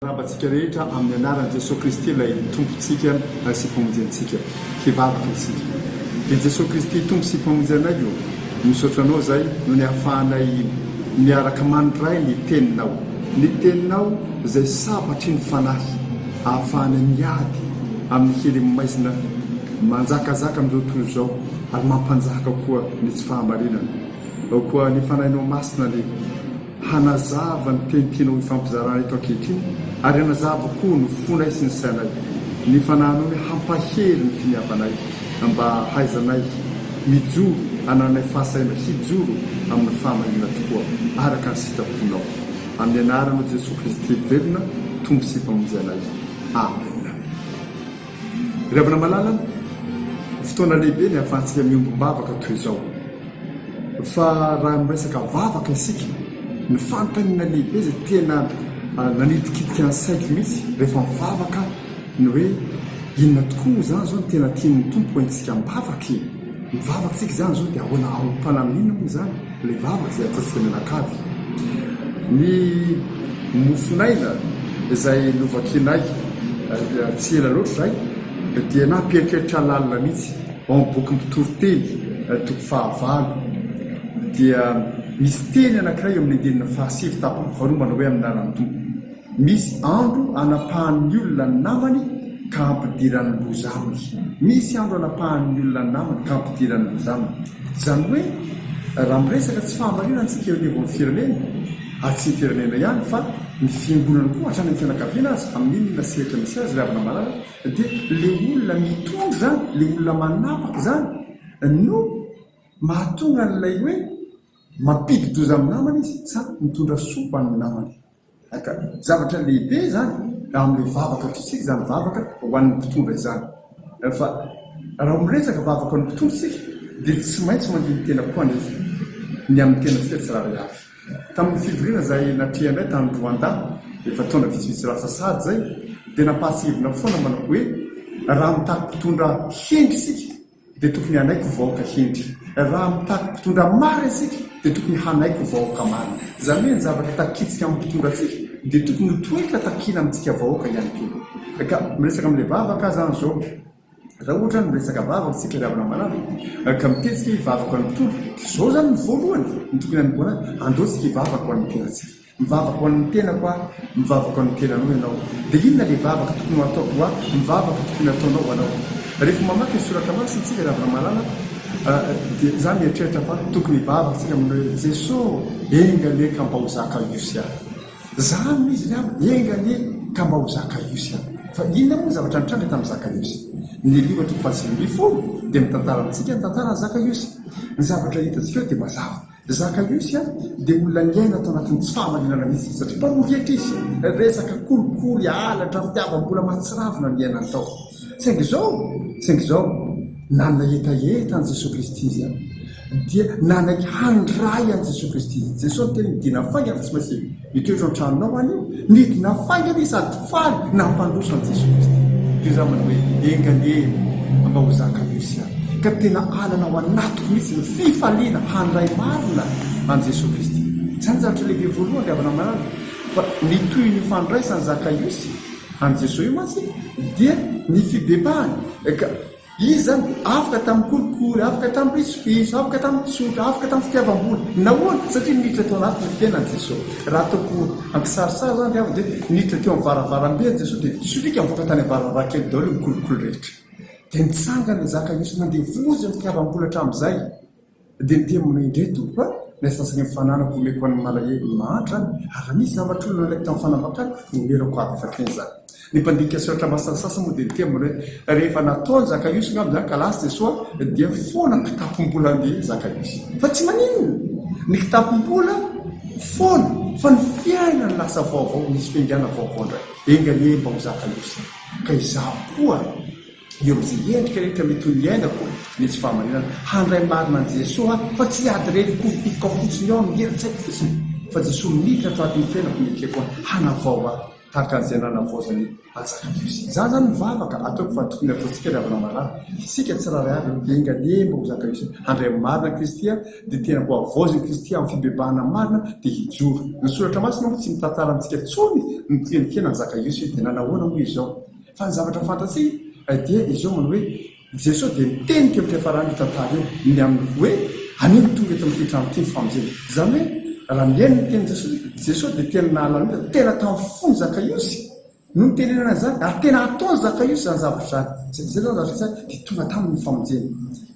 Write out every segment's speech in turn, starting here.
Miarahaba antsika rehetra amin'ny anaran'i Jesoa Kristy ilay Tompontsika sy Mpamonjy antsika. Hivavaka isika. Ry Jesoa Kristy Tompo sy Mpamonjy anay o, misaotra Anao izay nony ahafahanay miaraka mandray ny Teninao. Ny Teninao izay sabatry ny Fanahy ahafahanay miady amin'ny hery maizina manjakazaka amin'izao tontolo izao ary mampanjaka koa ny tsy fahamarinana. Ao koa ny Fanahinao Masina le hanazava ny teny tianao hifampizarana eto ankehitriny ary hanazava koa ny fonay sy ny sainay. Ny Fanahinao ny hampahery ny finiavanay mba hahaizanay mijoro hanananay fahasahiana hijoro amin'ny fahamarinana tokoa araka ny sitraponao. Amin'ny anaranao Jesoa Kristy velona Tompo sy Mpamonjy anay. Amen. Ry havana malala, fotoana lehibe ny ahafahantsika miombom-bavaka toy izao. Fa raha miresaka vavaka isika, ny fanontaniana lehibe izay tena nanitikitika ny saiko mihitsy rehefa mivavaka aho, ny hoe inona tokoa moa izany izao no tena tian'ny Tompo hoentintsika mivavaka e? Mivavaka isika izany izao dia ahoana? Amim-panam inona moa izany? Ny vava izay atosika mianakavy. Ny mofonaina izay novakianay tsy ela loatra izay dia nampieritreritra lalina mihitsy. Ao amin'ny bokin'ny mpitory teny, toko fahavalo, dia misy teny anankiray eo amin'ny andininy fahasivy tapany faharoa manao hoe Amin'ny anaran'ny Tompo. Misy andro anapahan'ny olona ny namany ka ampidirany loza aminy. Misy andro anapahan'ny olona ny namany ka ampidirany loza aminy. Izany hoe raha miresaka tsy fahamariana antsika eo anivon'ny firenena, ary tsy ny firenena ihany fa ny fiangonana koa hatrany amin'ny fianakaviana aza, amin'inona sehatra misy azy ry havana malala, dia ilay olona mitondra izany, ilay olona manapaka izany no mahatonga an'ilay hoe mampidi-doza amin'ny namany izy sa mitondra soa ho an'ny namany. Ka zavatra lehibe izany raha amin'ilay vavaka atao isika izany vavaka ho an'ny mpitondra izany. Fa raha miresaka vavaka ho an'ny mpitondra isika dia tsy maintsy mandini-tena koa anefa ny amin'ny tenantsika tsirairay avy. Tamin'ny fivoriana izay natrehanay tany Rwanda efa taona vitsivitsy lasa sahady izay dia nampahatsiahivina foana manao hoe raha mitaky mpitondra hendry isika, dia tokony hanaiky ho vahoaka hendry. Raha mitaky mpitondra marina isika dia tokony hanaiky ho vahoaka marina. Izany hoe ny zavatra takitsika amin'ny mpitondra antsika dia tokony ho toetra takina amintsika vahoaka ihany koa. Ka miresaka amin'ilay vavaka aho izany izao, raha ohatra ny miresaka vavaka isika ry havana malala, ka mitetsika hivavaka ho an'ny mpitondra, izao izany ny voalohany no tokony hanombohana, andao isika hivavaka ho an'ny mpitondratsika. Mivavaka ho an'ny tenako aho, mivavaka ho an'ny tenanao ianao. Dia inona ilay vavaka tokony ho ataoko ho ahy? Mivavaka tokony hataonao ho anao. Rehefa mamaky ny Soratra Masina isika, Ravinamalala, dia za mieritreritra fa tokony hivavaka isika amin'ny hoe, Jeso, enga anie ka mba ho zaka Iosy aho. Za no izy ilay avo, enga anie ka mba ho zaka Iosy aho. Fa inona moa ny zavatra nitranga tamin'i zaka Iosy? Ny Lova toko fahasivy ambin'ny folo dia mitantara amintsika ny tantaran'i zaka Iosy. Ny zavatra hitantsika ao dia mazava. Zakaiosy a, dia olona niaina tao anatin'ny tsy fahamarinana mihitsy izy, satria mpamoriatra izy, resaka kolikoly, halatra, fitiavam-bola mahatsiravina no niainany tao. Saingy izao, saingy izao, nanana hetaheta an'i Jesoa Kristy izy a, dia nanaiky handray an'i Jesoa Kristy izy. Jesoa no teniny, dia nafaingana fa tsy maintsy. Mitoetra ao an-tranonao any io. Nidina faingana izy sady faly nampandroso an'i Jesoa Kristy. Dia izaho manao hoe, Enga anie e, mba ho zaka Lesy aho. Ka tena hanana ao anatiko mihitsy ny fifaliana handray marina an'i Jesoa Kristy. Izany ny zavatra lehibe voalohany, ry havana maranitra, fa ny tohin'io fandraisan'i Zakaiosy an'i Jesoa io mantsy dia ny fibebahany. Ka. Izy izany afaka tamin'ny kolikoly, afaka tamin'ny risopiso, afaka tamin'ny tsotra, afaka tamin'ny fitiavam-bola. Nahoana? Satria niditra tao anatin'ny fiainan'i Jesoa. Raha ataoko an-kisarisary izany ry havana dia niditra teo amin'ny varavaram-by i Jesoa dia disolika nivoaka tany amin'ny varavarankely daholo ny kolikoly rehetra. Dia nitsangana i Zakaiosy nandevozy ny fitiavam-bola hatramin'izay. Dia dia aminay indray Tompo a! Ilay sasany amin'ny fananako omeko an'ny malahelo mahantra any, ary raha misy zavatra olana ilay tamin'ny fanambakana, omerako avy hafa kely izany. Ny mpandinika soratra masina sasany moa dia niteny manao hoe, Rehefa nataony Zakaiosy angamba izany ka lasa Jesoa, dia foana kitapom-bola andeha Zakaiosy. Fa tsy maninona! Ny kitapom-bola foana, fa ny fiainany lasa vaovao, nisy fiaingàna vaovao indray. Enga anie mba ho Zakaiosy aho, ka izaho koa Eo amin'izay endrika rehetra mety ho niainako ny tsy fahamarinana, handray marina an'i Jesoa aho fa tsy ady irery ikoroporoka ao fotsiny ao amin'ny eritsaiko fotsiny fa Jesoa miditra ato anatin'ny fiainako ny ekeko hanavao ahy tahaka an'izay nanavaozan'ny anjaka Jiosy. Izany izany ny vavaka ataoko fa tokony hataontsika ry havana marary isika tsirairay avy eo dia enganie mba ho zaka Jiosy handray marina Kristy aho dia tena ho havaoziny Kristy amin'ny fibebahana marina dia hijoro. Ny soratra masina moa tsy mitantara amintsika tsony ny toe-ny tena anjaka Jiosy dia nanahoana moa izao? Fa ny zavatra fantatsika dia izao manao hoe, i Jesoa dia niteny teo am-piafaran'io tantara io ny amin'ny hoe, anio no tonga eto amin'ity trano ity ny famonjena. Izany hoe, raha mihaino ny tenin'i Jesoa isika, i Jesoa dia tena nahalala an'io fa tena tamin'ny fon'i Zakaiosy no nitenenana an'izany ary tena ataon'i Zakaiosy izany zavatra izany. Izay izay izany zavatra izay dia tonga taminy ny famonjena.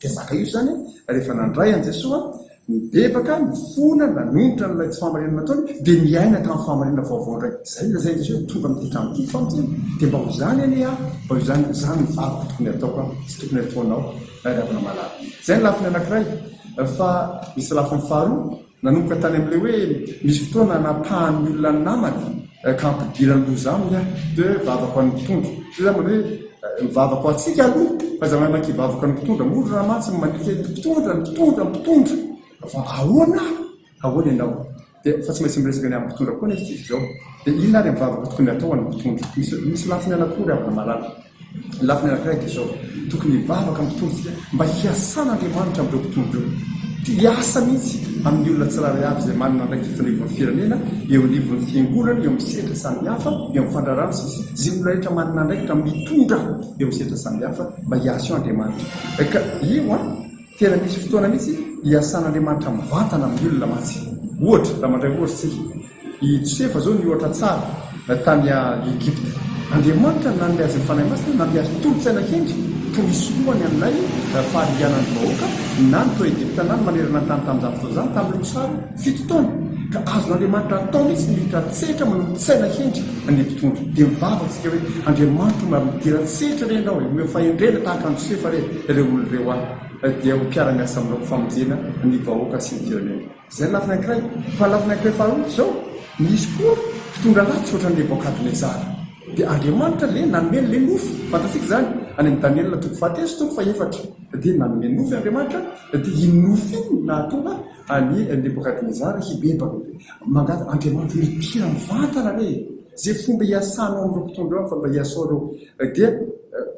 Dia Zakaiosy izany rehefa nandray an'i Jesoa Nibebaka, nifona, nanonitra an'ilay tsy fahamarinana nataony, dia niaina tamin'ny fahamarinana vaovao indray. Izay no lazain'i Jesoa hoe tonga amin'ity hatramin'ity ny famonjena. Dia mba ho izany anie aho, mba ho izany, izany no valiny tokony hataoko aho sy tokony hataonao, ry havana malala. Izay ny lafiny anankiray. Fa misy lafiny faharoa, nanomboka tany amin'ilay hoe misy fotoana anapahan'ny olona ny namany, Ka ampidirany toy izany ny ahy, toy hoe vavako an'ny mpitondra. Toy izany manao hoe, ny vavako antsika aloha, fa izay mamaky ny vavako an'ny mpitondra. Moa raha mantsy ny mandika eto, mpitondra, mpitondra, mpitondra. Fa ahoana aho? Ahoana ianao? Dia efa tsy maintsy miresaka ny amin'ny mpitondra koa anefa isika izao. Dia inona ary ny vavako tokony hatao ho an'ny mpitondra? Misy, misy lafiny anakory, havana malala. Ny lafiny anankiray dia izao, tokony hivavaka ny mpitondra isika mba hiasan'Andriamanitra amin'ireo mpitondra ireo, dia hiasa mihitsy amin'ny olona tsirairay avy izay manana andraikitra fanivon'ny firenena, eo anivon'ny fiangonana, eo amin'ny sehatra samihafa, eo amin'ny fandraharahana sy ny sisa, izay olona rehetra manana andraikitra mitondra eo amin'ny sehatra samihafa mba hiasa eo Andriamanitra. Ka io an! Tena misy fotoana mihitsy iasan'Andriamanitra mivantana amin'ny olona mantsy. Ohatra, raha mandray ohatra isika, i Josefa izao niohatra tsara tany Egypta. Andriamanitra no nanome azy ny Fanahy Masina, nanome azy tolo-tsaina kendry ho hisorohany an'ilay faharinganan'ny vahoaka na ny toa Egypta na ny manerana ny tany tamin'izany fotoana izany, tamin'ny roa sy fito taona. Ka azon'Andriamanitra atao mihitsy ny miditra an-tsehatra manolo-tsaina kendry ny mpitondra. Dia mivavaka isika hoe, Andriamanitra o, mba midera an-tsehatra re ianao e, omeo fahendrena tahaka an'i Josefa re. ireo olona ireo aho dia ho mpiara-miasa aminao famonjena ny vahoaka sy ny firenena. Izay ny lafiny ankiray. Fa ny lafiny ankiray faharoa dia izao, misy koa mpitondra ratsy ohatran'i Nebokadnezara. Dia Andriamanitra le nanome le nofy, fantatsika izany any amin'ny Daniela toko fahatelo sy toko fahefatra. Dia nanome nofy Andriamanitra, dia iny nofy iny no nahatonga an'i Nebokadnezara hibebaka. Mangataha Andriamanitra hoe, Mpiara-mivantana re e! Izay fomba iasanao amin'ireo mpitondra ireo, fa mba iasaoreo Dia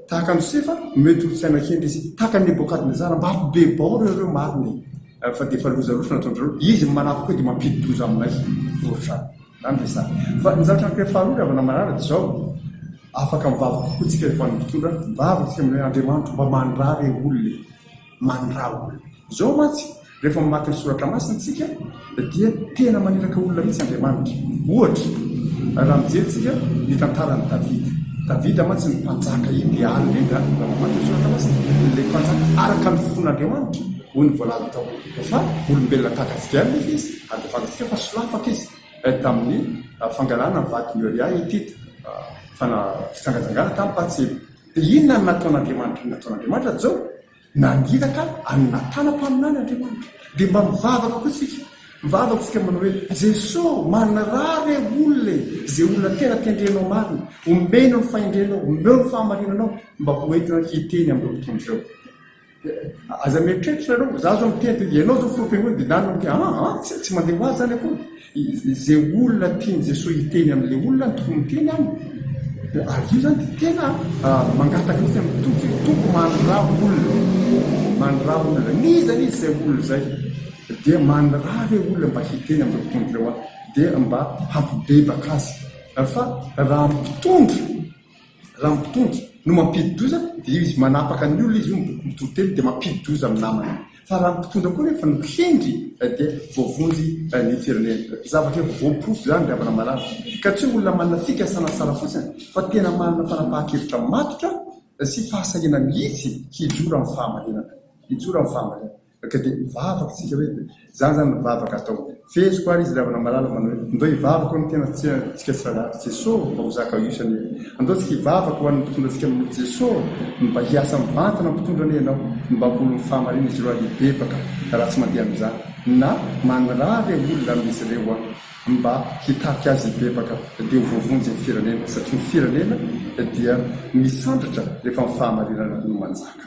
tahaka an'i Josefa, mety ho tsy hanakendry izy, tahaka an'i Nebokadnezara, mba hampibebao ireo ireo marina e! fa dia efa loza loatra nataon-dry zareo, izy ny manafika eo dia mampidi-doza aminay, ohatrany. Izany ilay sary. Fa ny zavatra anankiray faharoa, ry havana marary, dia izao, afaka mivavaka koa isika rehefa ny mpitondra, mivavaka isika amin'ilay hoe, Andriamanitro, mba mandrara e olona e! Mandrao olona. Izao mantsy, rehefa mamaky ny Soratra Masina isika, dia tena maniraka olona mihitsy Andriamanitra. Ohatra, raha mijery isika ny tantaran'i Davida. Davida mantsy ny mpanjaka idealy indrindra, raha mamaky ny Soratra Masina, ilay mpanjaka araka ny fon'Andriamanitra, hoy ny voalaza tao. Fa olombelona tahaka antsika ihany anefa izy, ary dia fantatsika fa solafaka izy tamin'ny fangalana ny vadin'i Oria Hetita, fitsangajangana tamin'i Batseba. Dia inona no nataon'Andriamanitra? Ny nataon'Andriamanitra dia izao, nangiraka an'i Natana mpaminany Andriamanitra. Dia mba mivavaka koa isika. Mivavaka isika manao hoe, Jeso, manaraha re olona e! Izay olona tena tendrenao marina, omeno ny fahendrenao, omeo ny fahamarinanao mba hoentina hiteny amin'ireo mpitondra ireo. Aza mieritreritra ianareo, izaho izao miteny dia ianao izao filoham-piangonana dia ianareo miteny, an, an, an, tsy mandeha ho azy izany akory. Izay olona tian'i Jesoa hiteny amin'ilay olona no tokony miteny aminy. Ary io izany dia tena mangataka mihitsy amin'ny Tompo hoe, Tompo manirà olona, manirà olona. N'iza n'iza izay olona izay dia manirà ilay olona mba hiteny amin'ireo mpitondra ireo aho, dia mba hampibebaka azy. Fa raha mpitondra, Raha ny mpitondra no mampidi-doza dia izy manapaka ny olona izy io miboky mitorotena dia mampidi-doza ny namany. Fa raha ny mpitondra koa rehefa no hendry dia voavonjy ny firenena. Zavatra efa voaporofo izany ry havana malala. Ka tsy hoe olona manana fikasana tsara fotsiny fa tena manana fanapahan-kevitra matotra sy fahasahiana mihitsy hijoro amin'ny fahamarinana. Hijoro amin'ny fahamarinana. Ka dia mivavaka isika hoe, izany izany no vavaka atao. Feheziko ary izy Ravanamalala manao hoe, andao hivavaka ho an'ny tenantsika tsirairay, Jeso mba ho zaka io isany e! Andao isika hivavaka ho an'ny mpitondra antsika manao hoe, Jeso o! mba hiasa mivantana mpitondra anie ianao, no mba ho olon'ny fahamariana izy ireo ary hibebaka raha tsy mandeha amin'izany, na manirà re olona amin'izy ireo an! mba hitarika azy hibebaka dia ho voavonjy ny firenena, satria ny firenena dia misandratra rehefa ny fahamarinana no manjaka.